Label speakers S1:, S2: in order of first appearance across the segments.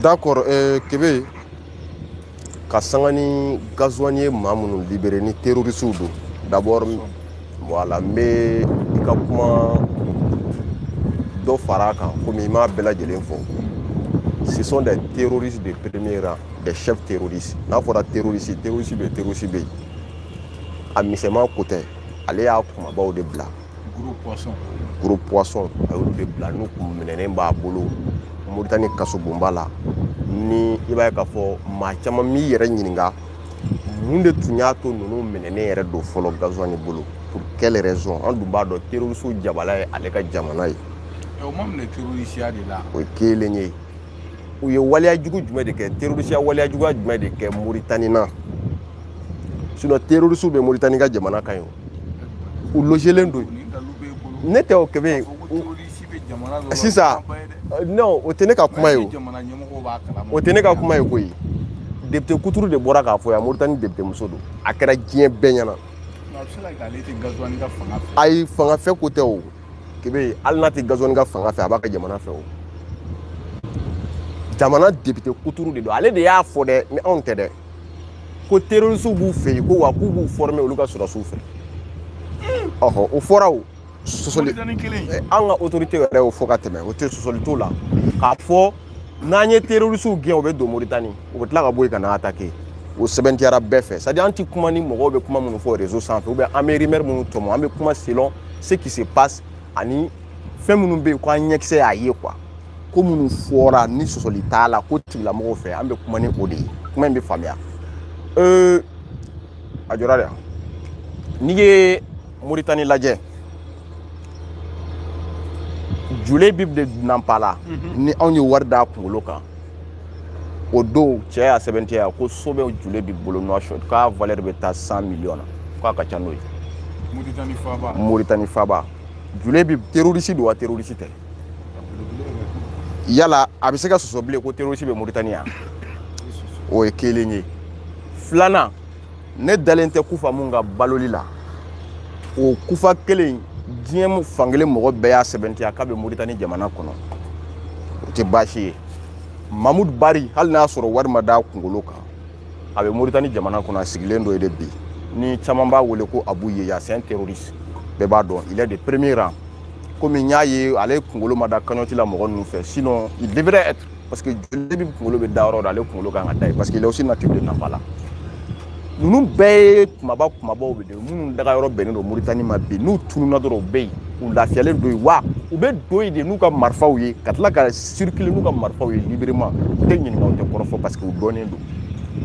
S1: D'accord, euh, Kebe, ka sanga ni gazuwani ye maa minnu libere ni terorisiw don d'abord voilà n bɛ i ka kuma dɔ fara a kan komi i m'a bɛɛ lajɛlen fɔ ce sont des terroristes de premier rang des chefs terroristes n'a fɔra terroriste terroriste bɛ terroriste bɛ yen a misɛnman ko tɛ ale y'a kumabaw de bila gros poisson a y'olu de bila n'u kun minɛnen b'a bolo moritani kasobonba la ni i b'a ye k'a fɔ maa caman m'i yɛrɛ ɲininka mun de tun y'a to ninnu minɛnen yɛrɛ don fɔlɔ gazuwani bolo pour quelle raison an dun b'a dɔn terorisiw jabala ye ale ka jamana ye o ma minɛ terorisiya de la o ye kelen ye u ye waleya jugu jumɛn de kɛ terorisiya waleya juguya jumɛn de kɛ moritani na sinɔn terorisiw bɛ moritani ka jamana kan yen u lojelen don ne tɛ o kebe sisan non o tɛ ne ka kuma ye o o tɛ ne ka kuma ye koyi depite kuturu de bɔra k'a fɔ yan moritani depite muso don a kɛra diɲɛ bɛɛ ɲɛna ayi fanga fɛ ko tɛ o kebe hali n'a tɛ gazuwani ka fanga fɛ a b'a ka jamana fɛ o jamana depite kuturu de don ale de y'a fɔ dɛ ni anw tɛ dɛ ko terorisiw b'u fɛ yen ko wa k'u b'u fɔrɔme olu ka sɔrɔdasiw fɛ ɔhɔ o fɔra o sɔsɔli an ka otorite yɛrɛ y'o fɔ ka tɛmɛ o tɛ sɔsɔli t'o la k'a fɔ n'an ye terorisiw gɛn u bɛ don moritani u bɛ tila ka bɔ yen ka na atake o sɛbɛntiyara bɛɛ fɛ sadi an tɛ kuma ni mɔgɔw bɛ kuma minnu fɔ rezo sanfɛ ubiyɛn an bɛ rimɛri minnu tɔmɔ an bɛ kuma selon ce qui se passe ani fɛn minnu bɛ yen ko an ɲɛkisɛ y'a ye kuwa ko minnu fɔra ni sɔsɔli t'a la ko tigilamɔgɔw fɛ an bɛ kuma ni o de ye kuma in bɛ faamuya ee aujourd'hui n'i ye moritani lajɛ julebibu de nanpala mhm. ni anw ye wari d'a kunkolo kan o dosiye y'a sɛbɛntiya ko so bɛ julebibu bolo Nouakchott k'a valɛri bɛ taa cent millions na k'a ka ca n'o ye moritani faba julebibu terorisi don wa terorisi tɛ yala a bɛ se ka sɔsɔ bilen ko terroriste bɛ Mauritanie yan o ye kelen ye filanan ne dalen tɛ kufa mun ka baloli la o kufa kelen diɲɛ fankelen mɔgɔ bɛɛ y'a sɛbɛntiya k'a bɛ Mauritanie jamana kɔnɔ o tɛ baasi ye Mahmoud Bari hali n'a sɔrɔ wari ma d'a kunkolo kan a bɛ Mauritanie jamana kɔnɔ a sigilen don yen de bi ni caman b'a wele ko Abu Yeya c'est un terroriste bɛɛ b'a dɔn il est de premier rang komi n y'a ye ale kunkolo ma da kaɲɔti la mɔgɔ ninnu fɛ sinon il devrait être parce que jule bib kunkolo bɛ da yɔrɔ dɔ ale kunkolo kan ka da yen parce que il est aussi natif de Nampala ninnu bɛɛ ye kunba kunbaw de minnu daga yɔrɔ bɛnnen don Mauritanie ma bi n'u tununna dɔrɔn u bɛ yen u lafiyalen don yen wa u bɛ don yen de n'u ka marifaw ye ka tila ka circuler n'u ka marifaw ye librement u tɛ ɲininka u tɛ kɔrɔfɔ parce que u dɔnnen don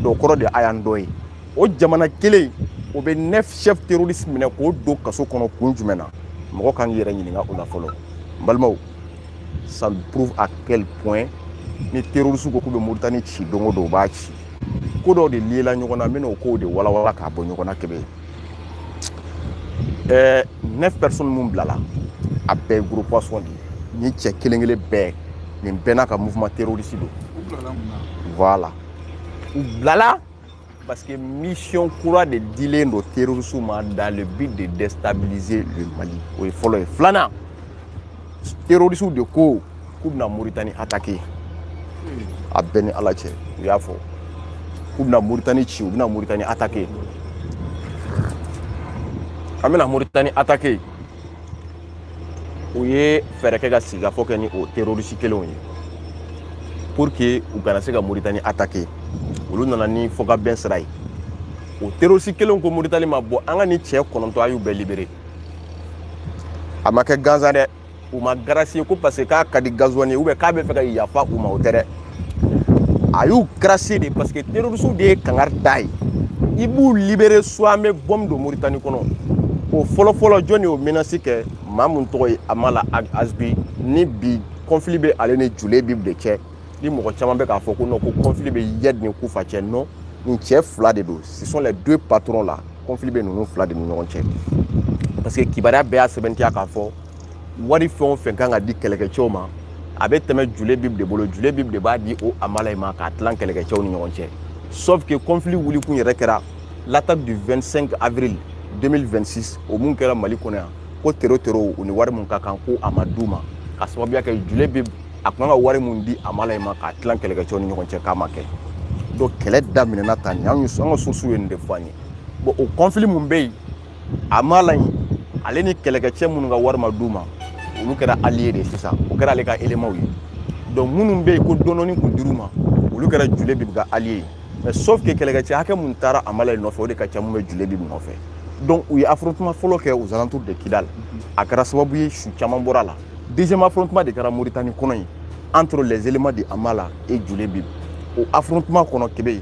S1: donc kɔrɔ de a y'an dɔn yen o jamana kelen o bɛ neuf chef terroriste minɛ k'o don kaso kɔnɔ kun jumɛn na mɔgɔ kan k'i yɛrɛ ɲininka o la fɔlɔ n balimaw ça prouve à quel point ni terroriste ko k'u bɛ moritani ci don o don u b'a ci ko dɔw de liela ɲɔgɔn na n bɛna o kow de walawala k'a bɔ ɲɔgɔn na kebe ɛɛ neuf personnes minnu bilala a bɛɛ ye gros poisson de ye nin cɛ kelen kelen bɛɛ nin bɛɛ n'a ka mouvement terroriste don voilà u bilala Parce que mission kura de dilen don terroriste ma dans le but de déstabiliser le Mali. O ye fɔlɔ ye. Filanan, terroristew de ko k'u bɛna Mauritanie attaquer. A bɛ n ni Ala cɛ, u y'a fɔ. K'u bɛna Mauritanie ci, u bɛna Mauritanie attaquer. K'an bɛna Mauritanie attaquer. u ye fɛɛrɛ kɛ ka sigikafɔ kɛ ni o terorisi kelenw ye pour que u kana se ka moritani atake olu nana ni fɔkabɛn sira ye o terorisi kelenw ko moritani ma bon an ka nin cɛ kɔnɔntɔn a y'u bɛɛ libere a ma kɛ gansan dɛ u ma garasiye ko parce que k'a ka di gazuwani ye ubiyɛn k'a bɛ fɛ ka yafa u ma o tɛ dɛ a y'u garasiye de parce que terorisiw de ye kangari da ye i b'u libere soit an bɛ bɔmu don moritani kɔnɔ o fɔlɔfɔlɔ jɔn de y'o menasi kɛ maa min tɔgɔ ye amala azbi ni bi kɔnfili bɛ ale ni jule bib de cɛ ni mɔgɔ caman bɛ k'a fɔ ko non ko kɔnfili bɛ iyad ni kufa cɛ non nin cɛ fila de don ce sont les deux patrons là kɔnfili bɛ ninnu fila de ni ɲɔgɔn cɛ parce que kibaruya bɛɛ y'a sɛmɛntiya k'a fɔ wari fɛn o fɛn kan ka di kɛlɛkɛcɛw ma a bɛ tɛmɛ jule bib de bolo jule bib de b'a di o amala in ma k'a tilan kɛlɛkɛcɛw ni ɲɔgɔn cɛ sauf que conflit wulikun yɛrɛ kɛra l'attaque du 25 avril 2026 o mun kɛra mali kɔnɔ yan ko tero terow ni wari mun ka kan ko a ma d'u ma k'a sababuya kɛ jule bib a tun ka wari mun di amala in ma k'a tilan kɛlɛkɛcɛw ni ɲɔgɔn cɛ k'a ma kɛ donc kɛlɛ daminɛna tan nin an ka sources ye nin de fɔ an ye bon o conflit mun bɛ yen amala in ale ni kɛlɛkɛcɛ minnu ka wari ma d'u ma olu kɛra allié de ye sisan o kɛra ale ka éléments ye donc minnu bɛ yen ko dɔɔni kun dir'u ma olu kɛra jule bibi ka allié ye mais sauf que kɛlɛkɛcɛ hakɛ mun taara amala in nɔfɛ o de ka ca mun bɛ jule bibi nɔfɛ donc u ye affrontement fɔlɔ kɛ aux alentours de Kidal a kɛra sababu ye su caman bɔra a la deuxième affrontement de kɛra Mauritanie kɔnɔ yen entre les éléments de Amala et Jule Bib o affrontement kɔnɔ Kebe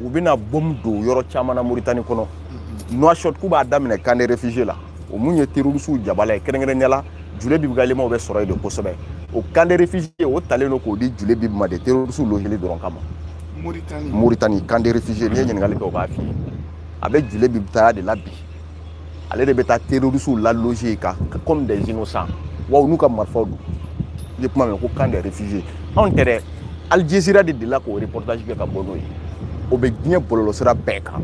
S1: u bɛna bomu don yɔrɔ caman na moritani kɔnɔ Nouakchott k'u b'a daminɛ camp de réfugiés la o mun ye terorisiw jabala ye kɛrɛnkɛrɛnya la Julebib ka élémentw bɛ sɔrɔ yen de kosɛbɛ o camp de réfugiés o talen don k'o di Julebib ma de terorisiw logeli dɔrɔn kama moritani camp de réfugiés n'i ye ɲininkali kɛ o b'a f'i ye a bɛ Julebib taya de la bi ale de bɛ taa terorisiw la loger ka comme des innocents wa u n'u ka marifaw don i ye kuma mɛn ko camp des réfugiés anw tɛ dɛ Al Jazeera de delila k'o reportage kɛ ka bɔ n'o ye o bɛ diɲɛ bɔlɔlɔsira bɛɛ kan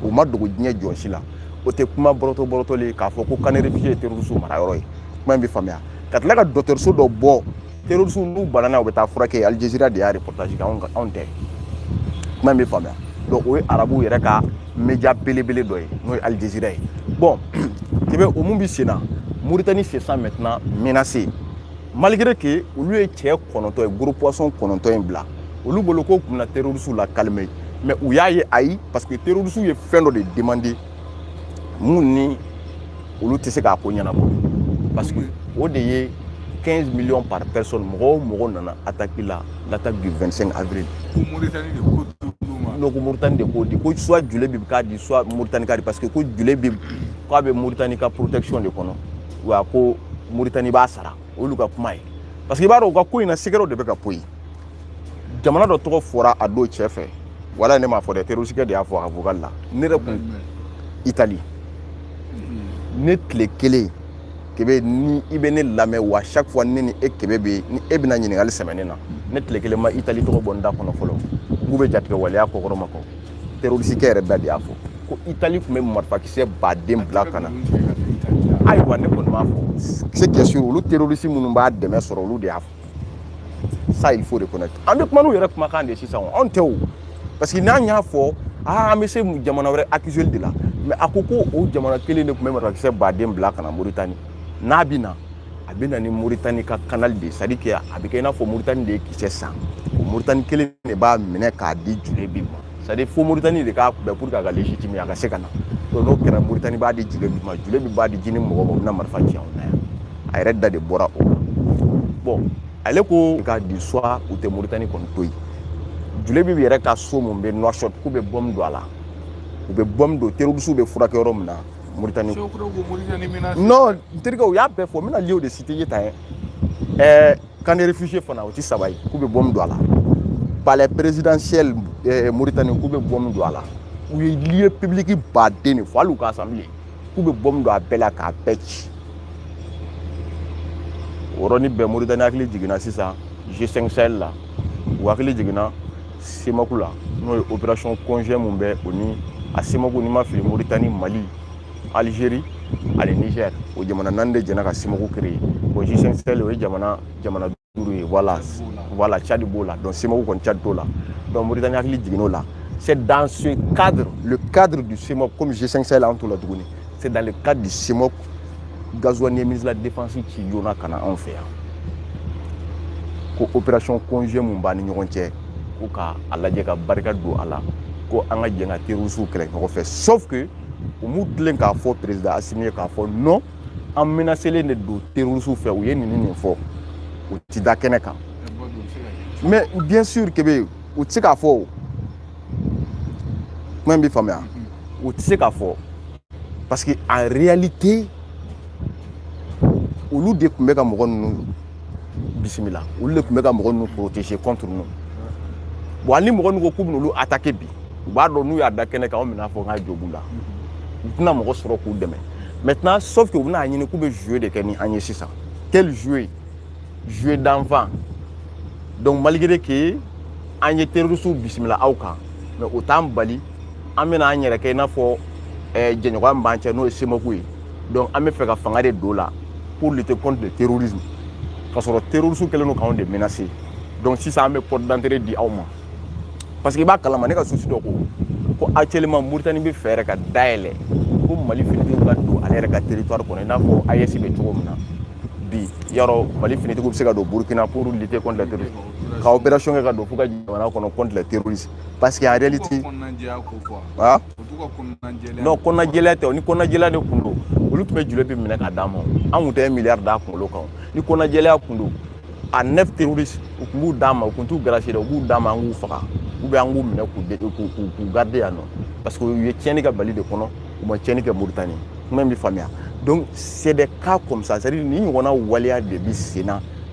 S1: o ma dogo diɲɛ jɔn si la o tɛ kuma bɔrɔtɔ bɔrɔtɔlen k'a fɔ ko camp des réfugiés ye terorisiw marayɔrɔ ye kuma in bɛ faamuya ka tila ka dɔgɔtɔrɔso dɔ bɔ terroriste n'u banana u bɛ taa furakɛ Al Jazeera de y'a reportage kɛ anw anw tɛ kuma in bɛ faamuya donc o ye arabuw yɛrɛ ka media belebele dɔ ye n'o ye Al Jazeera ye bon Kebe o mun bɛ sen na Mauritanie se sent maintenant menacée malgré que olu ye cɛ kɔnɔntɔn in gros poisson kɔnɔntɔn in bila olu bolo k'o tun bɛna terroriste la calmer mais u y'a ye ayi parce que terroriste ye fɛn dɔ de demander mun ni olu tɛ se k'a ko ɲɛnabɔ parce que o de ye 15 millions par personne mɔgɔ o mɔgɔ nana attaque la l'attaque du 25 avril ko Mauritanie de ko non ko Mauritanie de k'o di ko soit Julebib k'a di soit Mauritanie k'a di parce que ko Julebib k'a bɛ Mauritanie ka protection de kɔnɔ wa ko Mauritanie b'a sara olu ka kuma ye parce que i b'a dɔn u ka ko in na secretw de bɛ ka poyi jamana dɔ tɔgɔ fɔra a don cɛ fɛ wala ne m'a fɔ dɛ terroristikɛ de y'a fɔ a vocal la ne yɛrɛ kun Italie mm-hmm. ne tile kelen Kebe ni i bɛ ne lamɛn wa chaque fois ne ni e Kebe bɛ ni e bɛna ɲininkali sɛmɛ ne na mm-hmm. ne tile kelen ma Italie tɔgɔ bɔ n da kɔnɔ fɔlɔ k'u bɛ jatigɛwaleya kɔkɔrɔmadon terroristikɛ yɛrɛ bɛɛ de y'a fɔ ko Italie tun bɛ marifakisɛ baden bila ka na ayiwa ne kɔni b'a fɔ c'est bien sûr olu terroriste minnu b'a dɛmɛ sɔrɔ olu de y'a fɔ ça il faut reconnaître an bɛ kuma n'u yɛrɛ kumakan de ye sisan o anw tɛ o parce que n'an y'a fɔ aa an bɛ se jamana wɛrɛ accuser de la mais a ko ko o jamana kelen de tun bɛ marifakisɛ baden bila ka na Mauritanie n'a bɛ na a bɛ na ni Mauritanie ka canal de ye c'est à dire que a bɛ kɛ i n'a fɔ Mauritanie de ye kisɛ san o Mauritanie kelen de b'a minɛ k'a di Julebib ma c'est à dire fo Mauritanie de k'a kunbɛ pour que a ka légitime a ka se ka na donc n'o kɛra Mauritanie b'a di Julebib ma Julebib b'a di JNIM mɔgɔw ma u bɛ na marifa ci anw na yan. a yɛrɛ da de bɔra o bon ale ko k'a di soit u tɛ moritani kɔni to yen Julebib yɛrɛ ka so mun bɛ Nouakchott k'u bɛ bɔm don a la u bɛ bɔm don terroristes bɛ furakɛ yɔrɔ min na moritani non n terikɛ u y'a bɛɛ fɔ n bɛna lieuw de citer tan ye ɛɛ camp de réfugiés fana o ti saba ye k'u bɛ bɔm don a la palais présidentiel moritani k'u bɛ bɔm don a la u ye lieu public baden de fɔ hali u ka assemblée k'u bɛ bɔmu don a bɛɛ la k'a bɛɛ ci o yɔrɔnin bɛɛ moritani hakili jiginna sisan g5 sahel la u hakili jiginna cemoc la n'o ye opération conjointe mun bɛ o ni a cemoc ni n ma fili moritani mali algérie ani niger o jamana naani de jɛna ka cemoc créer bon g5 sahel o ye jamana jamana duuru ye voilà voilà Tchad b'o la donc CEMOC kɔni Tchad t'o la donc Mauritanie hakili jiginn'o la c'est dans ce cadre le cadre du CEMOC comme G5 Sahel an t'o la tuguni c'est dans le cadre du CEMOC Ghazouani ministre de la défense ci joona ka na anw fɛ yan ko opération conjointe mun b'an ni ɲɔgɔn cɛ ko ka a lajɛ ka barika don a la ko an ka jɛn ka terrorisiw kɛlɛ ɲɔgɔn fɛ sauf que u m'u tilen k'a fɔ président Assimi ye k'a fɔ non an menacelen de don terrorisiw fɛ u ye nin nin fɔ u ti da kɛnɛ kan mais bien sûr que be u ti se k'a fɔ o kuma in bɛ faamuya u ti se k'a fɔ parce que en réalité olu de tun bɛ ka mɔgɔ ninnu bisimila olu de tun bɛ ka mɔgɔ ninnu protéger contre ninnu bon hali ni mɔgɔ ninnu ko k'u bɛna olu attaquer bi u b'a dɔn n'u y'a da kɛnɛ kan anw bɛna fɔ k'a jo b'u la u tɛna mɔgɔ sɔrɔ k'u dɛmɛ maintenant sauf que u bɛna a ɲini k'u bɛ jeu de kɛ ni an ye sisan quel jeu jeu d'enfant donc malgré que an ye terroristes bisimila aw kan mais o t'an bali an bɛna an yɛrɛ kɛ i n'a fɔ eh, jɛɲɔgɔnya min b'an cɛ n'o ye CEMOC ye donc an bɛ fɛ ka fanga de don a la pour lutter contre le terrorisme k'a sɔrɔ terrorisme kɛlen don k'anw de menacer donc sisan an bɛ porte d'entrée di aw ma parce que i b'a kalama ne ka source dɔ ko ko actuellement Mauritanie bɛ fɛ yɛrɛ ka dayɛlɛ ko Mali finitigiw ka don ale yɛrɛ ka territoire kɔnɔ i n'a fɔ AES bɛ cogo min na bi yarɔ Mali finitigiw bɛ se ka don Burkina pour lutter contre le terrorisme ka opération kɛ ka don fo ka jamana kɔnɔ contre le terrorisme parce que en réalité non kɔnɔnajɛlɛya tɛ o ni kɔnɔnajɛlɛya de tun don olu tun bɛ Jouleybib minɛ k'a d'an ma an tun tɛ miliyari d'a kunkolo kan ni kɔnɔnajɛlɛya tun don a neuf terroriste u tun b'u d'an ma u tun t'u gracier dɛ u b'u d'an ma an k'u faga ou bien an k'u minɛ k'u de k'u k'u k'u garde yan nɔ parce que u ye tiɲɛni kɛ Mali de kɔnɔ u ma tiɲɛni kɛ Mauritanie kuma in bɛ faamuya donc c'est des cas comme ça c'est à dire nin ɲɔgɔnna waleya de bɛ sen na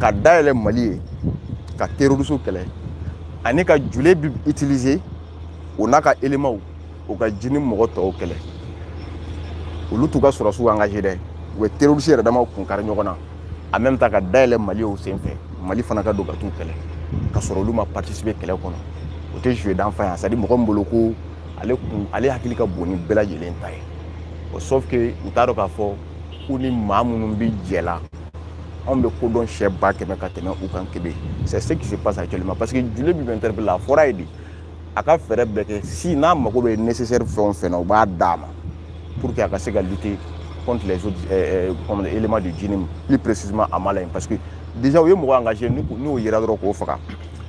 S1: ka dayɛlɛ mali ye ka terrorisiw kɛlɛ ani ka jouleybib utiliser o n'a ka éléments u ka jnim mɔgɔ tɔw kɛlɛ olu t'u ka sɔrɔdasiw engager dɛ u bɛ terroriste yɛrɛ damaw kun kari ɲɔgɔn na en même temps ka dayɛlɛ mali ye o sen fɛ mali fana ka don ka t'u kɛlɛ ka sɔrɔ olu ma participer kɛlɛ kɔnɔ o tɛ jeu d'enfant ye c'est à dire mɔgɔ min bolo ko ale kun ale hakili ka bon ni bɛɛ lajɛlen ta ye o sauf que u t'a dɔn k'a fɔ ko ni maa minnu bɛ jɛ la anw bɛ ko dɔn siɲɛ ba kɛmɛ ka tɛmɛ u kan kebe c'est ce qui se passe actuellement parce que Jouleybib interpellé a fɔra ye de a ka fɛɛrɛ bɛɛ kɛ si n'a mago bɛ nécessaire fɛn o fɛn na u b'a d'a ma pour que a ka se ka lutter contre les autres euh, comme éléments du JNIM plus précisément à Malayen parce que déjà u ye mɔgɔ engagé n'o yera dɔrɔn k'o faga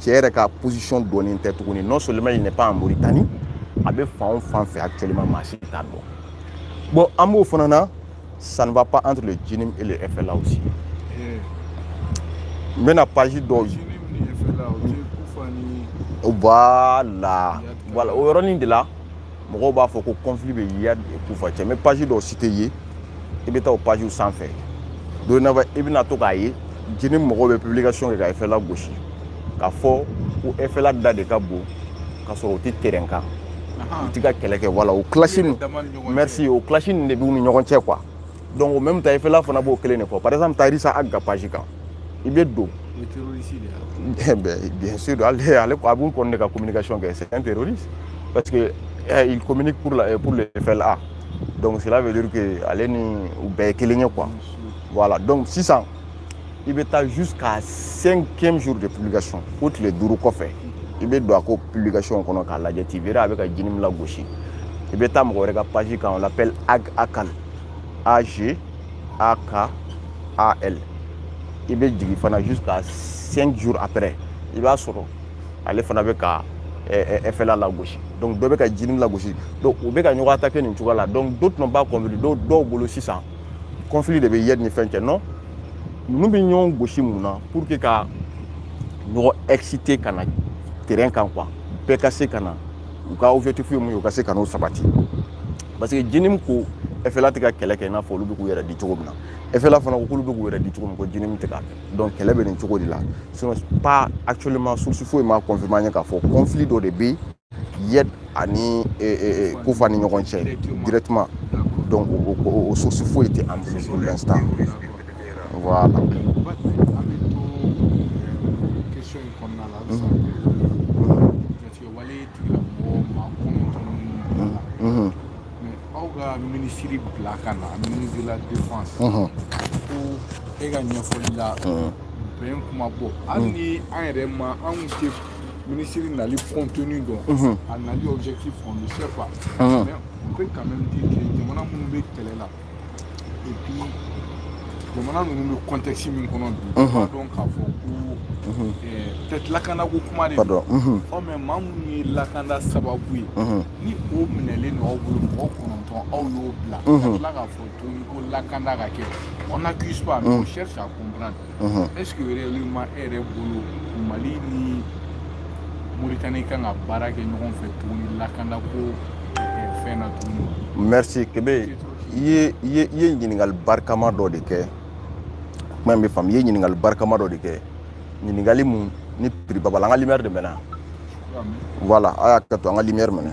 S1: cɛ yɛrɛ ka position dɔnnen tɛ tuguni non seulement il n'est pas en Mauritanie a bɛ fan o fan fɛ actuellement maa si t'a dɔn bon an b'o fana na ça ne va pas entre le JNIM et le FLA aussi n bɛna page dɔw voilà voilà o yɔrɔnin de la mɔgɔw b'a fɔ ko conflit bɛ Iyad ni Kufa cɛ mais page dɔw citer i ye i bɛ taa o pagew sanfɛ don na i bɛna to k'a ye JNIM mɔgɔw bɛ publication kɛ ka FLA gosi k'a fɔ ko FLA da de ka bon k'a sɔrɔ u tɛ terrain kan u ti ka kɛlɛ kɛ voilà o clash nin merci o clash nin de b'u ni ɲɔgɔn cɛ quoi donc en même temps FLA fana b'o kelen de fɔ par exemple taa Rhissa Ag ka page kan i bɛ don eh bien sûr ale ale a b'u kɔni de ka communication kɛ c'est un terroriste parce que eh, il communique pour la eh, pour le FLA donc cela veut dire que ale ni u bɛɛ ye kelen ye quoi voilà donc sisan i bɛ taa jusqu'à cinquième jour de publication fo tile duuru kɔfɛ i bɛ don a ka publication kɔnɔ k'a lajɛ tu verras a bɛ ka JNIM lagosi i bɛ taa mɔgɔ wɛrɛ ka page kan on l'appelle Ag Akal Ag Akal i bɛ jigin fana jusqu'à 5 jours après. i b'a sɔrɔ ale fana bɛ ka FLA lagosi donc dɔ bɛ ka JNIM lagosi donc u bɛ ka ɲɔgɔn attaquer nin cogoya la donc d'autres n'ont pas compris dɔw dɔw bolo sisan conflit de bɛ Iyad ni fɛn cɛ non ninnu bɛ ɲɔgɔn gosi mun na pour que ka ɲɔgɔn exciter ka na terrain kan quoi bɛɛ ka se ka na u ka objectif ye mun ye u ka se ka n'o sabati parce que JNIM ko FLA tɛ ka kɛlɛ kɛ i n'a fɔ olu bɛ k'u yɛrɛ di cogo min na FLA fana ko k'olu bɛ k'u yɛrɛ di cogo min ko JNIM tɛ k'a kɛ donc kɛlɛ bɛ nin cogo de la sinon pas actuellement source foyi ma confirmer an ye k'a fɔ conflit dɔ de bɛ Iyad ani Kufa ni ɲɔgɔn cɛ directement donc o source foyi tɛ an bolo pour l'instant voilà aw ka minisiri bila ka na ministre de la défense ko e ka ɲɛfɔli la bɛn kuma bɔ hali ni an yɛrɛ ma an kɔni tɛ minisiri nali contenu dɔn a nali objectif on ne sait pas mais on peut quand même dire que jamana minnu bɛ kɛlɛ la et puis jamana ninnu bɛ contexte min kɔnɔ bi b'a dɔn k'a fɔ ko peut-être lakandako kuma de don o mais maa minnu ye lakanda sababu ye ni o minɛlen don aw bolo mɔgɔ kɔnɔntɔn aw y'o bila ka tila k'a fɔ tuguni ko lakanda ka kɛ on n'accuse pas mais on cherche à comprendre est-ce que réellement e yɛrɛ bolo mali ni moritani kan ka baara kɛ ɲɔgɔn fɛ tuguni lakanda ko fɛn na tuguni merci kebe i ye i ye i ye ɲininkali barikama dɔ de kɛ kuma in bɛ faamu i ye ɲininkali barikama dɔ de kɛ ɲininkali min ni prix ba b'a la an ka lumière de mɛnɛ voilà a k'a to an ka lumière mɛnɛ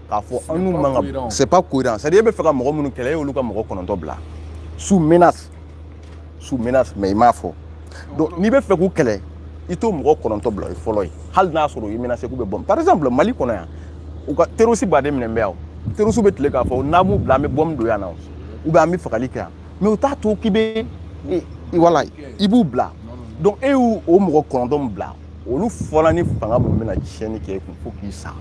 S1: k'a fɔ an n'u man kan c'est pas cohérent c'est à dire e bɛ fɛ ka mɔgɔ minnu kɛlɛ e y'olu ka mɔgɔ kɔnɔntɔn bila sous menace sous menace mais i m'a fɔ donc n'i bɛ fɛ k'u kɛlɛ i t'o mɔgɔ kɔnɔntɔn bila o ye fɔlɔ ye hali n'a sɔrɔ u ye menace k'u bɛ bɔ par exemple mali kɔnɔ yan u ka terroriste baden minɛ bɛ yan terroriste bɛ tila k'a fɔ n'an m'u bila an bɛ bɔmu don yan na ou bien an bɛ fagali kɛ yan mais u t'a to k'i bɛ wala i b'u bila donc e y'u o mɔgɔ kɔnɔntɔn bila olu fana ni fanga min bɛna tiɲɛni kɛ i kun fo k'i sa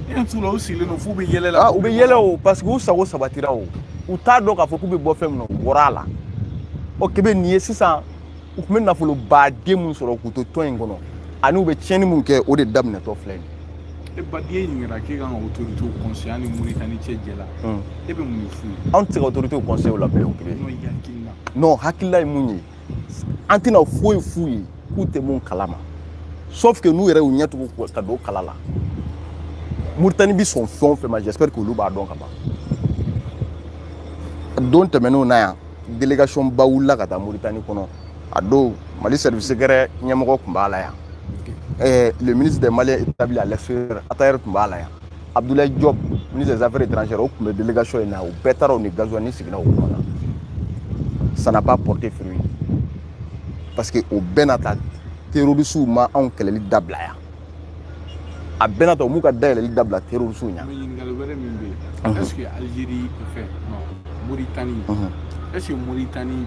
S1: u sigilen don f'u bɛ yɛlɛ la u bɛ yɛlɛ o parce que u sago sabatira o u t'a dɔn k'a fɔ k'u bɛ bɔ fɛn min na u bɔra a la ɔ kebe nin ye sisan u tun bɛ nafoloba de min sɔrɔ k'u to tɔn in kɔnɔ ani u bɛ tiɲɛni min kɛ o de daminɛtɔ filɛ nin ye ba n'i ye ɲininkali k'e kan ka otoritew kɔnseye mali moritani cɛ jɛ la e bɛ mun de f'u ye anw tɛ se ka otoritew kɔnseye o la bilen o kelen non hakilila ye mun ye an tɛna foyi f'u ye k'u tɛ min kalama sauf que n'u yɛrɛ y'u ɲɛtugu ka don kala la moritani bɛ sɔn fɛn o fɛn ma j'espère k'olu b'a dɔn ka ban don tɛmɛnenw na yan délégation ba wulila ka taa muritani kɔnɔ a don mali service secret ɲɛmɔgɔ tun b'a la yan le ministre des maliens établis à l'extérieur attaher tun b'a la yan abdoulaye diop ministre des affaires étrangères o tun bɛ délégation in na u bɛɛ taara u ni ghazouani sigira o kunna ça n'a pas porté fruit parce que o bɛɛ n'a ta terrorisiw ma anw kɛlɛli dabila yan a bɛɛ n'a ta u m'u ka dayɛlɛli dabila terrorisiw ɲa ɲininkali wɛrɛ min bɛ yen est ce que algérie fɛ moritani est ce que moritani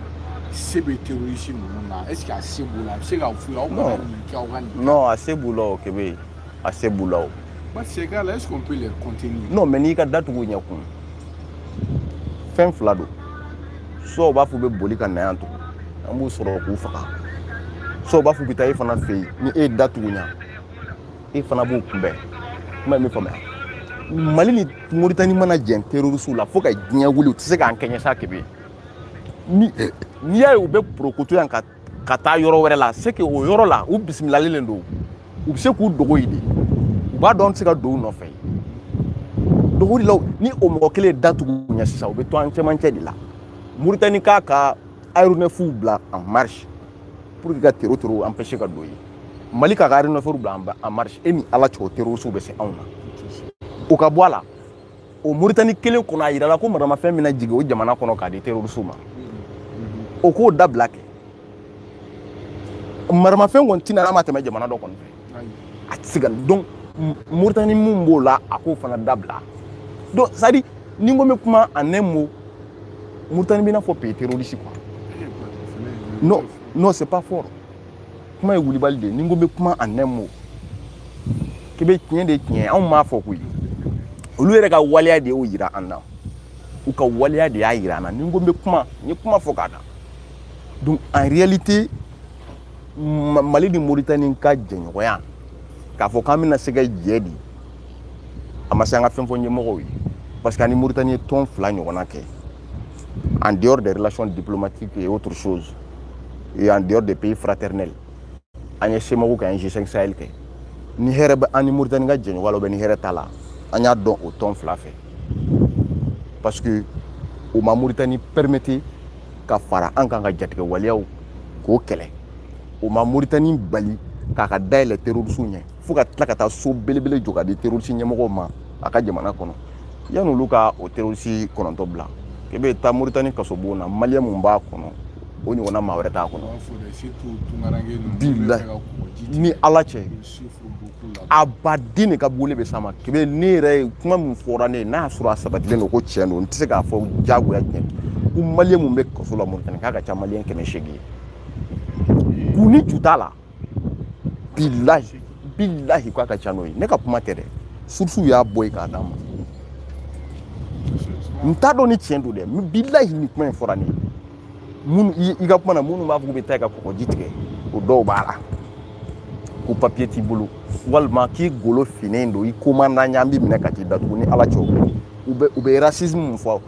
S1: se bɛ terrorisi ninnu na est ce que a se b'u la a bɛ se k'a f'u ye aw kana nin kɛ aw ka nin non a se b'u la o kebe a se b'u la o ma se k'a la est ce qu'on peut les compter non mais n'i ka da tugu ɲɛ kun fɛn fila don soit u b'a fɔ u bɛ boli ka na yan tugun an b'u sɔrɔ k'u faga soit u b'a fɔ u bɛ taa e fana fɛ yen ni e ye da tugu ɲa e fana b'u kunbɛn kuma ye min faamuya mali ni moritani mana jɛn terorisiw la fo ka diɲɛ wuli u tɛ se k'an kɛɲɛ sa kebe n'i y'a ye u bɛ porokoto yan ka ka taa yɔrɔ wɛrɛ la c'est que o yɔrɔ la u bisimilalen de don u bɛ se k'u dogo yen de u b'a dɔn an tɛ se ka don u nɔfɛ dogo de la ni o mɔgɔ kelen datugu ɲɛ sisan u bɛ to an cɛmancɛ de la Mauritanie k'a ka aéronefs bila en marche pour que ka tero tero empêcher ka don yen Mali k'a ka aéronefs bila en marche e ni Ala cɛ o terroristes bɛ se anw na o ka bɔ a la o moritani kelen kɔnɔ a yirala ko maramafɛn bɛna jigin o jamana kɔnɔ k'a di terorisiw ma o k'o dabila kɛ maramafɛn kɔni tɛ na n'a ma tɛmɛ jamana dɔ kɔni fɛ a tɛ se ka donc moritani mun b'o la a k'o fana dabila donc c'est à dire ni n ko n bɛ kuma en un mot moritani bɛ i n'a fɔ pays terroriste quoi non non c'est pas fort kuma ye wulibali de ye ni n ko n bɛ kuma en un mot k'i bɛ tiɲɛ de tiɲɛ anw m'a fɔ koyi olu yɛrɛ ka waleya de y'o yira an na u ka waleya de y'a yira an na ni n ko n bɛ kuma n ye kuma fɔ k'a da donc en réalité mali ni moritani ka jɛɲɔgɔnya k'a fɔ k'an bɛna se ka jɛ di a ma se an ka fɛn fɔ ɲɛmɔgɔw ye parce que an ni moritani ye tɔn fila ɲɔgɔnna kɛ en dehors des relations diplomatiques et autres choses, et en dehors des pays fraternels, an ye cemoc kɛ an ye g5 sahel kɛ ni hɛrɛ bɛ an ni moritani ka jɛɲɔgɔnya la bɛ ni hɛrɛ t'a la an y'a dɔn o tɔn fila fɛ parce que o ma moritani permete ka fara an kan ka jatigɛwaleyaw k'o kɛlɛ o ma moritani bali k'a ka da yɛlɛ terorisiw ɲɛ fo ka tila ka taa so belebele jɔ k'a di terorisi ɲɛmɔgɔw ma a ka jamana kɔnɔ yan'olu ka o terorisi kɔnɔntɔn bila k'e bɛ taa moritani kasobon na maliyɛn mun b'a kɔnɔ o ɲɔgɔnna maa wɛrɛ t'a kɔnɔ bilahi ni ala cɛ a baden de ka boli bɛ s'a ma k'i bɛ ne yɛrɛ ye kuma min fɔra ne ye n'a y'a sɔrɔ a sabatilen don ko tiɲɛ don n tɛ se k'a fɔ diyagoya tiɲɛ ko maliyɛn mun bɛ kaso la moritani k'a ka ca maliyɛn kɛmɛ seegin ye kun ni ju t'a la bilahi bilahi k'a ka ca n'o ye ne ka kuma tɛ dɛ surusiw y'a bɔ yen k'a d'a ma n t'a dɔn ni tiɲɛ don dɛ bilahi ni kuma in fɔra ne ye minnu i ka kuma na minnu b'a fɔ k'u bɛ taa i ka kɔgɔji tigɛ o dɔw b'a la ko papiye t'i bolo walima k'i golo finnen don i komandan ɲan b'i minɛ ka t'i datugu ni ala cɛ u bɛ u bɛ racisme mun fɔ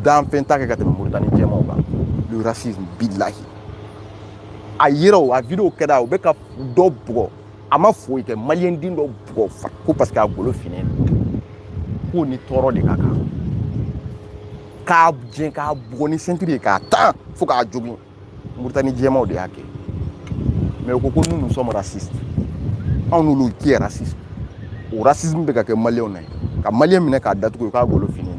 S1: danfɛn t'a kɛ ka tɛmɛ moritani jɛmaw kan le racisme bilahi a yɛrɛ a video kɛra u bɛ ka dɔ bugɔ a ma foyi kɛ maliyɛn den dɔ bugɔ ko parce que a golo finnen don k'o ni tɔɔrɔ de ka kan ka jɛ k'a bugɔ ni sentiri ye k'a tan fo k'a jogin moritani jɛmaw de y'a kɛ mais u ko ko nous nous sommes racistes anw n'olu qui est raciste o racisme bɛ ka kɛ maliyɛnw na yen ka maliyɛn minɛ k'a datugu u k'a golo finnen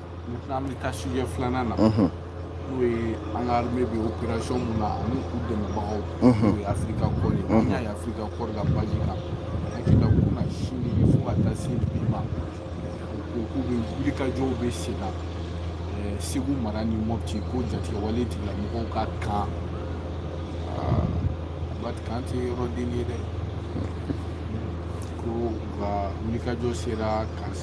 S1: Maintenant an bɛ taa sujɛ filanan na n'o ye an ka armée bɛ opération min na ani u dɛmɛbagaw n'o ye Afrika kɔri ye an y'a ye Afrika kɔri ka page kan hakili la kunasini fo ka taa se bi ma ko k'u bɛ wulikajɔw bɛ sen na eh, Segu mara ni Mopti ko jatigɛwale tigilamɔgɔw ka kan ah, Abat kan tɛ yɔrɔ den ye dɛ ko u ka wulikajɔ sera ka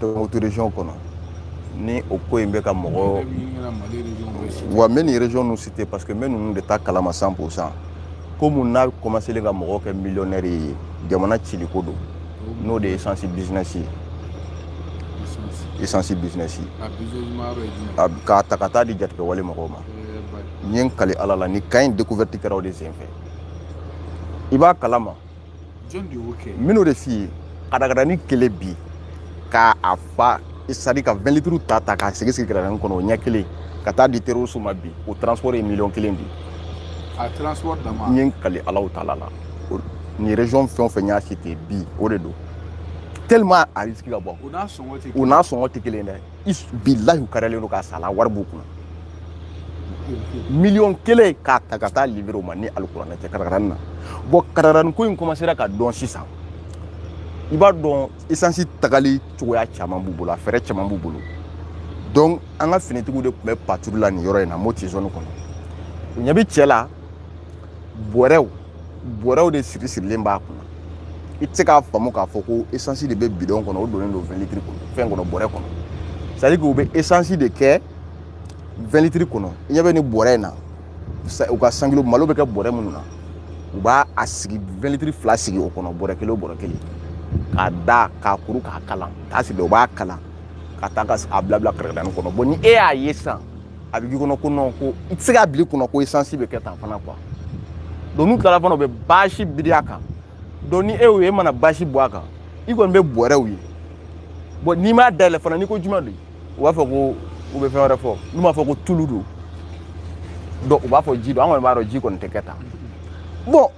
S1: kɔnɔ ni o ko in bɛ ka mɔgɔ wa n bɛ nin rejɔnw citer parce que n bɛ ninnu de ta kalama cent pour cent ko min n'a kɔmaselen ka mɔgɔ kɛ miliyɔnɛri ye jamana ciliko don n'o de ye esansi bizinɛsi ye esansi bizinɛsi k'a ta ka taa di jatigɛwale mɔgɔw ma n ye n kali ala la ni ko in découverte kɛra o de senfɛ i b'a kalama minnu de f'i ye katakatani kelen bi ka a fa sadi ka 20 litiri ta ta k'a sigi sigi katakatani kɔnɔ o ɲɛ kelen ka taa di terroristes ma bi o transport ye miliyɔn kelen bi a transport dama n ye n kali alahu taala la nin région fɛn o fɛn n y'a citer bi o de don tellement a risque ka bon u n'a sɔngɔ tɛ kelen ye dɛ bilahi u karalen don k'a sala wari b'u kunna miliyɔn kelen k'a ta ka taa livrer u ma ni alikuranɛ tɛ katakatani na bɔn katakatani ko in kɔmasera ka dɔn sisan i b'a dɔn esansi tagali cogoya caman b'u bolo a fɛɛrɛ caman b'u bolo donc an ka finitigiw de tun bɛ paturu la nin yɔrɔ in na Mopti zone kɔnɔ u ɲɛ bɛ cɛ la bɔrɛw bɔrɛw de siri sirilen b'a kunna i tɛ se k'a faamu k'a fɔ ko esansi de bɛ bidɔn kɔnɔ o donnen don vɛnlitiri kɔnɔ fɛn kɔnɔ bɔrɛ kɔnɔ sadi k'u bɛ esansi de kɛ vɛnlitiri kɔnɔ i ɲɛ bɛ nin bɔrɛ in na u ka sankilo malo bɛ kɛ bɔrɛ minnu na u b'a a sigi vɛnlitiri fila sigi o kɔnɔ bɔrɛ kelen o bɔrɛ kelen k'a da k'a kuru k'a kalan k'a sigi u b'a kalan ka taa ka a bila bila katakatani kɔnɔ bɔn ni e y'a ye sisan a bɛ k'i kɔnɔ ko nɔn ko i tɛ se k'a bila i kun na ko esansi bɛ kɛ tan fana quoi donc n'u tilala fana u bɛ baasi biri a kan donc ni e y'o ye e mana baasi bɔ a kan i kɔni bɛ bɔrɛw ye bɔn n'i m'a dayɛlɛ fana n'i ko juma don u b'a fɔ ko u bɛ fɛn wɛrɛ fɔ n'u m'a fɔ ko tulu don dɔrɔn u b'a fɔ ji don an kɔni b'a dɔn ji kɔni tɛ kɛ tan bɔn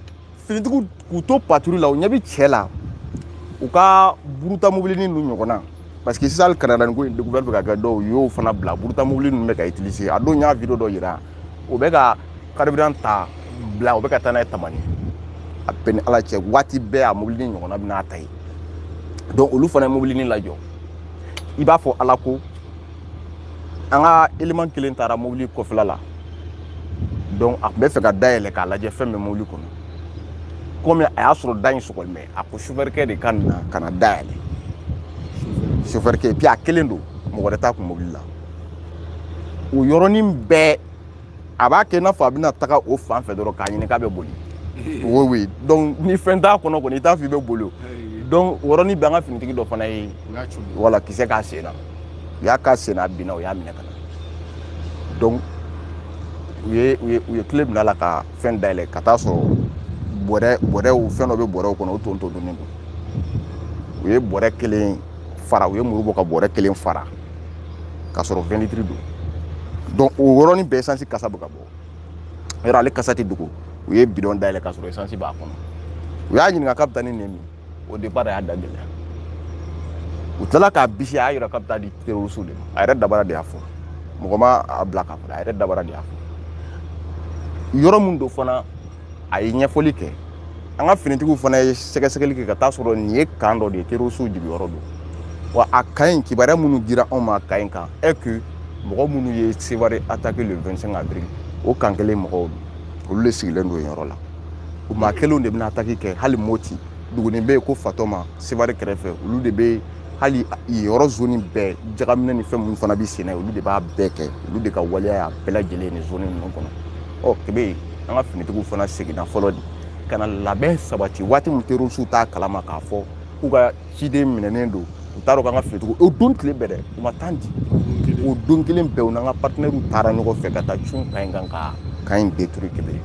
S1: finitigiw k'u to paturu la u ɲɛ bɛ cɛ la u ka buruta mobilini ninnu ɲɔgɔnna parce que sisan hali katakatani ko in découverte bɛ ka kɛ dɔw y'o fana bila buruta mobili ninnu bɛ ka utiliser a donc n y'a video dɔ yira o bɛ ka carburant ta Bla o bɛ ka taa n'a ye Tamani a bɛɛ ni ala cɛ waati bɛɛ a mobilini ɲɔgɔnna bɛ na a ta yen donc olu fana ye mobilini lajɔ i b'a fɔ ala ko an ka eleman kelen taara mobili kɔfɛla la donc a tun b'a fɛ ka dayɛlɛ k'a lajɛ fɛn bɛ mobili kɔnɔ komi a y'a sɔrɔ da in sɔgɔlen bɛ a ko sofɛrikɛ de ka na ka na dayɛlɛ sofɛrikɛ puis a kelen don mɔgɔ wɛrɛ t'a kun mobili la o yɔrɔnin bɛɛ a b'a kɛ i n'a fɔ a bɛna taga o fan fɛ dɔrɔn k'a ɲini k'a bɛ boli o oui donc ni fɛn t'a kɔnɔ kɔni i t'a fɔ i bɛ boli o donc o yɔrɔnin bɛɛ an ka finitigi dɔ fana ye bala kisɛ k'a sen na u y'a k'a sen na a binna u y'a minɛ ka na donc u ye u ye u ye kile bila a la ka fɛn dayɛlɛ ka taa sɔrɔ bɔrɛ bɔrɛw fɛn dɔ bɛ bɔrɛw kɔnɔ o tontonnen don u ye bɔrɛ kelen fara u ye muru bɔ ka bɔrɛ kelen fara k'a sɔrɔ vingt litres don donc o yɔrɔnin bɛɛ esansi kasa bɛ ka bɔ yɔrɔ ale kasa tɛ dogo u ye bidɔn dayɛlɛ k'a sɔrɔ esansi b'a kɔnɔ u y'a ɲininka k'a bɛ taa ni nin min au départ a y'a da gɛlɛya u tilala k'a bisi a y'a yira k'a bɛ taa di terorisiw de ma a yɛrɛ dabara de y'a fɔ mɔgɔ ma a bila k'a fɔ a yɛrɛ dabara de y'a fɔ yɔrɔ min don fana a ye ɲɛfɔli kɛ an ka finitigiw fana ye sɛgɛsɛgɛli kɛ ka taa sɔrɔ nin ye kan dɔ de ye terorisiw jigiyɔrɔ don wa a kan in kibaruya minnu dira anw ma a kan in kan est que mɔgɔ minnu ye sewari ataki le 25 avril o kan kelen mɔgɔw don olu de sigilen don yen yɔrɔ la o maa kelenw de bɛna ataki kɛ hali moti dugunin bɛ yen ko fatɔma sewari kɛrɛfɛ olu de bɛ hali yɔrɔ zoni bɛɛ jagaminɛni fɛn minnu fana bɛ senna olu de b'a bɛɛ kɛ olu de ka waleya y'a bɛɛ lajɛlen nin zoni ninnu kɔnɔ ɔ k'i b'a ye an ka finitigiw fana seginna fɔlɔ de ka na labɛn sabati waati min terorisiw t'a kalama k'a fɔ k'u ka ciden minɛnen don u t'a dɔn k'an ka finitigiw o don tile bɛɛ dɛ u ma tan di o don kelen bɛɛ u n'an ka patinɛriw taara ɲɔgɔn fɛ ka taa cun kan in kan ka kan in détruit k'i b'a ye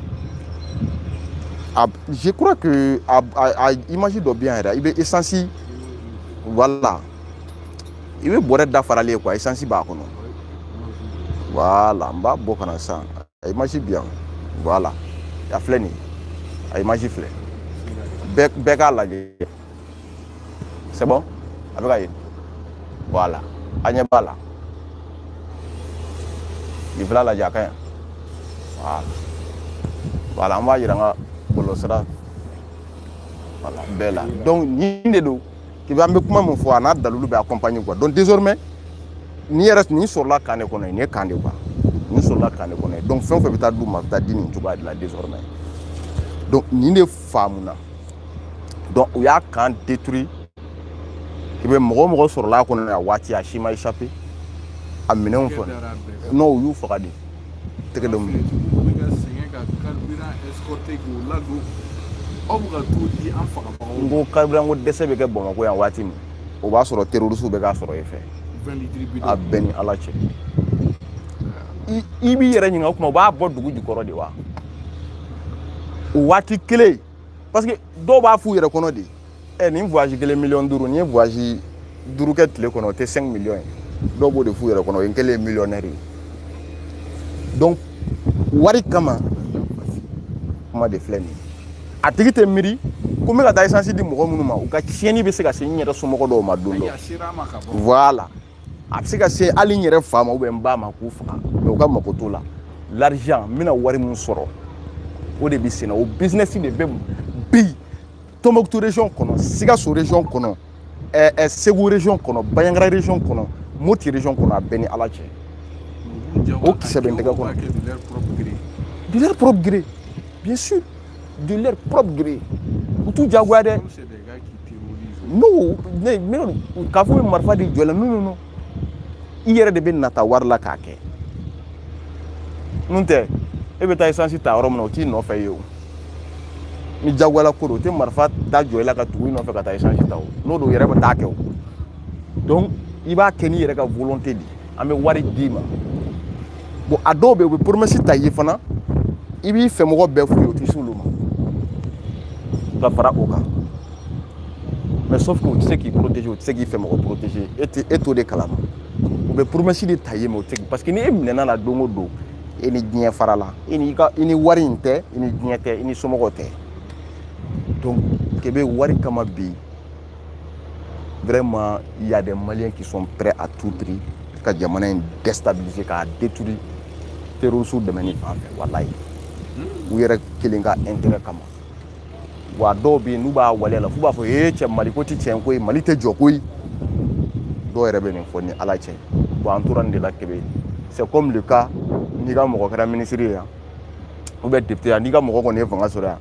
S1: je crois que a, a, a image dɔ bɛ yan yɛrɛ i bɛ essence voilà i bɛ bɔrɛ dafaralen ye quoi esansi b'a kɔnɔ voilà n b'a bɔ ka na sisan a image bɛ yan voilà a filɛ nin a image filɛ bɛɛ k'a lajɛ c'est bon a bɛ ka ye voilà a ɲɛ b'a la nin fila lajɛ a ka ɲi voilà voilà an b'a yira an ka bɔlɔlɔsira voilà bɛɛ la donc nin de don k'i bɛ an bɛ kuma min fɔ a n'a dalilu bɛ accompagner quoi donc désormais n'i yɛrɛ nin sɔrɔla kan de kɔnɔ nin ye kan de quoi nin sɔrɔla kan de kɔnɔ ye donc fɛn o fɛn bɛ taa d'u ma a bɛ taa di nin cogoya de la désormais donc nin de faamuna donc u y'a kan détruit k'i bɛ mɔgɔ o mɔgɔ sɔrɔla a kɔnɔ a waati a si ma échappé a minɛnw fɔ non u y'u faga de tɛgɛ dɔ minɛ n ko carburant ko dɛsɛ bɛ kɛ bamakɔ yan waati min o b'a sɔrɔ terrorisiw bɛ k'a sɔrɔ e fɛ a bɛ n ni ala cɛ i b'i yɛrɛ ɲininka o tuma u b'a bɔ dugu jukɔrɔ de wa o waati kelen parce que dɔw b'a f'u yɛrɛ kɔnɔ de ɛ nin voyage kelen miliyɔn duuru ni n ye voyage duuru kɛ tile kɔnɔ o tɛ 5 miliyɔn ye dɔw b'o de f'u yɛrɛ kɔnɔ o ye n kɛlen ye miliyɔnɛri ye donc wari kama kuma de filɛ nin ye a tigi tɛ miiri ko n bɛ ka taa esansi di mɔgɔ minnu ma u ka tiɲɛni bɛ se ka se n yɛrɛ somɔgɔ dɔw ma don dɔ voilà a bɛ se ka se hali n yɛrɛ fa ma ou bien n ba ma k'u faga mais u ka mako t'o la l'argent n bɛna wari min sɔrɔ o de bɛ senna o bizinɛsi de bɛ bi tɔnbɔkutu region kɔnɔ sikaso region kɔnɔ ɛɛ eh, eh, segu region kɔnɔ baɲangara region kɔnɔ moti region kɔnɔ a bɛ n ni ala cɛ o kisɛ bɛ n tɛgɛ kɔnɔ de leur propre gré bien sûr de leur propre gré u t'u jagoya dɛ non non non k'a fɔ u bɛ marifa de jɔ i la non non i yɛrɛ de bɛ nata wari la k'a kɛ n'o tɛ e bɛ taa esansi ta yɔrɔ min na u t'i nɔfɛ yen o ni jagoyala ko don u tɛ marifa da jɔ i la ka tugu i nɔfɛ ka taa esansi ta o n'o don u yɛrɛ bɛ taa a kɛ o donc i b'a kɛ n'i yɛrɛ ka volonté de ye an bɛ wari d'i ma bon a dɔw bɛ yen u bɛ promesse ta i ye fana i b'i fɛmɔgɔ bɛɛ f'u ye u tɛ s'olu ma ka fara o kan mais sauf que u tɛ se k'i protéger u tɛ se k'i fɛmɔgɔ protéger e tɛ e t'o de kalama u bɛ promesse de ta i ye mais u tɛ parce que ni e minɛna la don o don e ni diɲɛ fara la i ni ka i ni wari in tɛ i ni diɲɛ tɛ i ni somɔgɔw tɛ donc kebe wari kama bi vraiment il y a des maliens qui sont prêts à tout prix ka jamana in déstabiliser k'a détruire terroriste dɛmɛni fan fɛ walayi hmm? u yɛrɛ kelen ka intérêt kama wa dɔw bɛ yen n'u b'a waleya la f'u b'a fɔ ee cɛ mali ko tɛ tiɲɛ ko ye mali tɛ jɔ ko ye dɔw yɛrɛ bɛ nin fɔ n ni ala cɛ bon an tora nin de la kebe c'est comme le cas n'i ka mɔgɔ kɛra minisiri ye yan ou bien député yan n'i ka mɔgɔ kɔni ye fanga sɔrɔ yan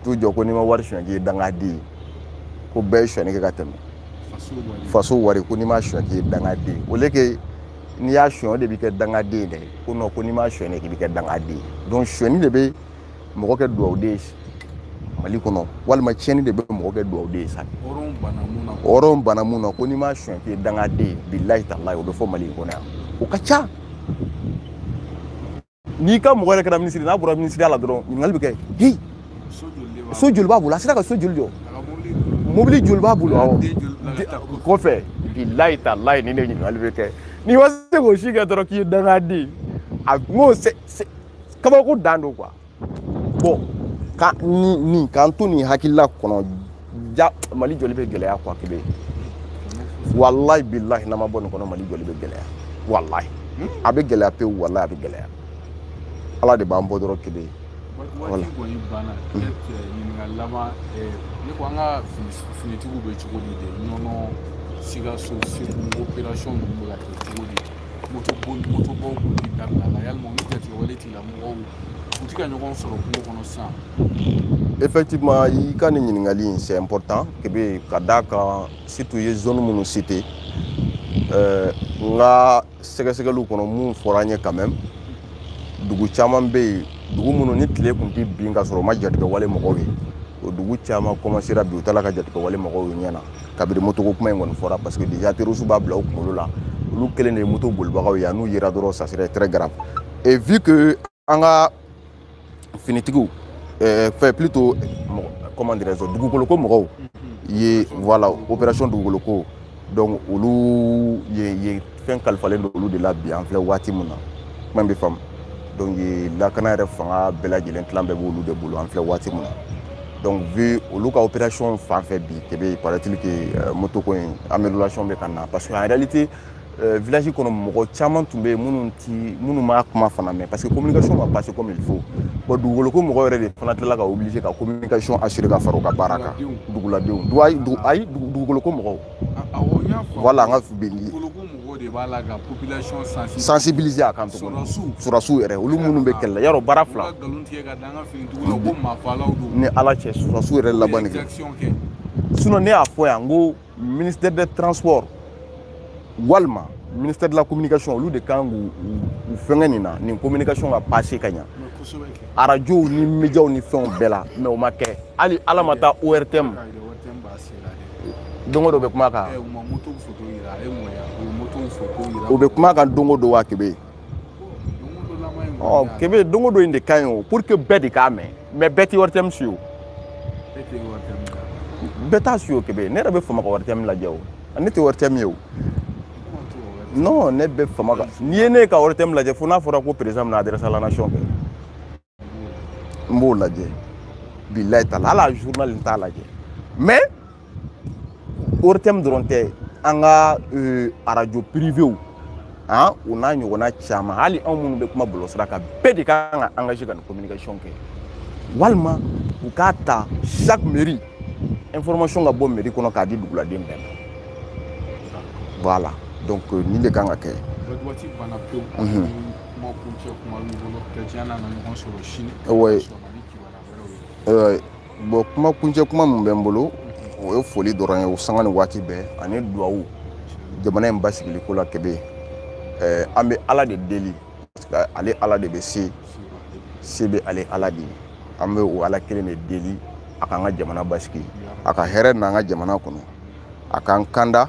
S1: toujours ko n'i ma wari suɲɛ k'i ye dangaden ye ko bɛɛ ye suɲɛni kɛ ka tɛmɛ faso wari ko n'i m'a suɲɛ k'i ye dangaden ye alors que n'i y'a suɲɛ o de bɛ kɛ dangaden ye dɛ ko non ko n'i m'a suɲɛ k'i bɛ kɛ dangaden ye donc suɲɛni de bɛ mɔgɔ kɛ dugawuden ye mali kɔnɔ walima tiɲɛni de bɛ mɔgɔ kɛ dugawuden ye sa hɔrɔn bana mun na ko n'i m'a suɲɛ k'i ye dangaden ye bilayi talayi o bɛ fɔ mali in kɔnɔ yan o ka ca n'i ka mɔgɔ yɛrɛ kɛra minisiri n'a bɔra minisiriya la dɔrɔn ɲininkali bɛ kɛ hi so joli b'a bolo a sera ka so joli jɔ mobili joli b'a bolo awɔ kɔfɛ bilayi talayi nin de ɲininkali bɛ kɛ n'i ma se k'o si kɛ dɔrɔn k'i ye dangaden a n'o kabako dan don quoi bon ka nin nin k'an to nin hakilila kɔnɔ ja mali jɔli bɛ gɛlɛya quoi kebe walayi bilahi n'an ma bɔ nin kɔnɔ mali jɔli bɛ gɛlɛya walayi hmm? a bɛ gɛlɛya pewu walayi a bɛ gɛlɛya ala de b'an bɔ dɔrɔn kelen wala kɔni banna hmm. ɲininkali laban ne ko an ka finitigiw bɛ cogo di de ɲɔnɔ sikaso segu operasɔn ninnu bɛ ka kɛ cogo di moto boli moto bɔ kun ti dabilala yalima olu jatigɛwale tigilamɔgɔw u ti ka ɲɔgɔn sɔrɔ kungo kɔnɔ sisan effectivement i ka nin ɲininkali in c'est important kebe ka d'a kan surtout i ye zone minnu cité euh, n ka sɛgɛsɛgɛliw kɔnɔ mun fɔra an ye quand même dugu caman bɛ yen dugu minnu ni tile tun tɛ bin ka sɔrɔ u ma jatigɛwale mɔgɔw ye o dugu caman kɔmasera bi u t'a la ka jatigɛwale mɔgɔw ye ɲɛ na kabiri motoko kuma in kɔni fɔra parce que déjà terroristew b'a bila u kunkolo la olu kelen de ye moto bolibagaw ye n'u yera dɔrɔn ça serait très grave et vu que an ka finitigiw euh, enfin plutôt comment dirais-je dugukoloko mɔgɔw ye voilà opération dugukoloko donc olu ye ye fɛn kalifalen don olu de la bi an filɛ waati min na kuma bɛ faamu donc lakana yɛrɛ fanga bɛɛ lajɛlen tilan bɛɛ b'olu de bolo an filɛ waati min na donc vu olu ka opération fan fɛ bi kebe paraît-il que euh, moto ko in amélioration bɛ ka na parce que en réalité euh, village kɔnɔ mɔgɔ caman tun bɛ yen minnu ti minnu m'a kuma fana mɛn parce que communication ma passer comme il faut bon dugukoloko mɔgɔ yɛrɛ de fana tilala ka obliger ka communication assurer ka fara u ka baara kan duguladenw ayi dugukoloko mɔgɔw wala an ka bindi sensibiliser a kan tuguni surasiw yɛrɛ olu minnu bɛ kɛlɛyɔrɔ baara fila ni ala cɛ surasiw yɛrɛ laban kɛ sinon ne y'a fɔ yan n ko ministère de transport walima ministère de la communication olu de kan k'u fɛngɛ nin na nin communication ka passer ka ɲa arajow ni médiaw ni fɛnw bɛɛ la mais o ma kɛ hali ala ma taa ortm don o don u bɛ kuma a kan u bɛ kuma a kan don o don wa kebe ɔ kebe don o don in de ka ɲi o pour que bɛɛ de k'a mɛn mais bɛɛ tɛ ortm suivre bɛɛ t'a suivre kebe ne yɛrɛ bɛ fama ka ortm lajɛ o ne tɛ ortm ye o non ne bɛ fama ka n'i ye ne ka ortm lajɛ fo n'a fɔra ko président bɛna adresse à la nation kɛ n b'o lajɛ bilayi t'a la hali a journal n t'a lajɛ mais ORTM dɔrɔn tɛ an ka euh, arajo privéw han o n'a ɲɔgɔnna caman hali anw minnu bɛ kuma bɔlɔlɔsira kan bɛɛ de ka kan ka engagé ka nin communication kɛ walima u ka taa chaque mairie information ka bɔ mairie kɔnɔ k'a di duguladen bɛɛ ma voilà donc euh, nin de kan ka kɛ Kuma kuncɛ kuma min b'i bolo ka diɲɛ n'a na ɲɔgɔn sɔrɔ sini Wayi. Sɔgɔma ni kibaruya wɛrɛw ye. Ɛɛ, bon kuma kuncɛ kuma min bɛ n bolo o ye foli dɔrɔn ye o sanga ni waati bɛɛ ani duwawu jamana in basigili ko la kebe ɛɛ an bɛ ala de deli parce que ale ala de bɛ se se bɛ ale ala de ye an bɛ o ala kelen de deli a k'an ka jamana basigi a ka hɛrɛ n'an ka jamana kɔnɔ a k'an kanda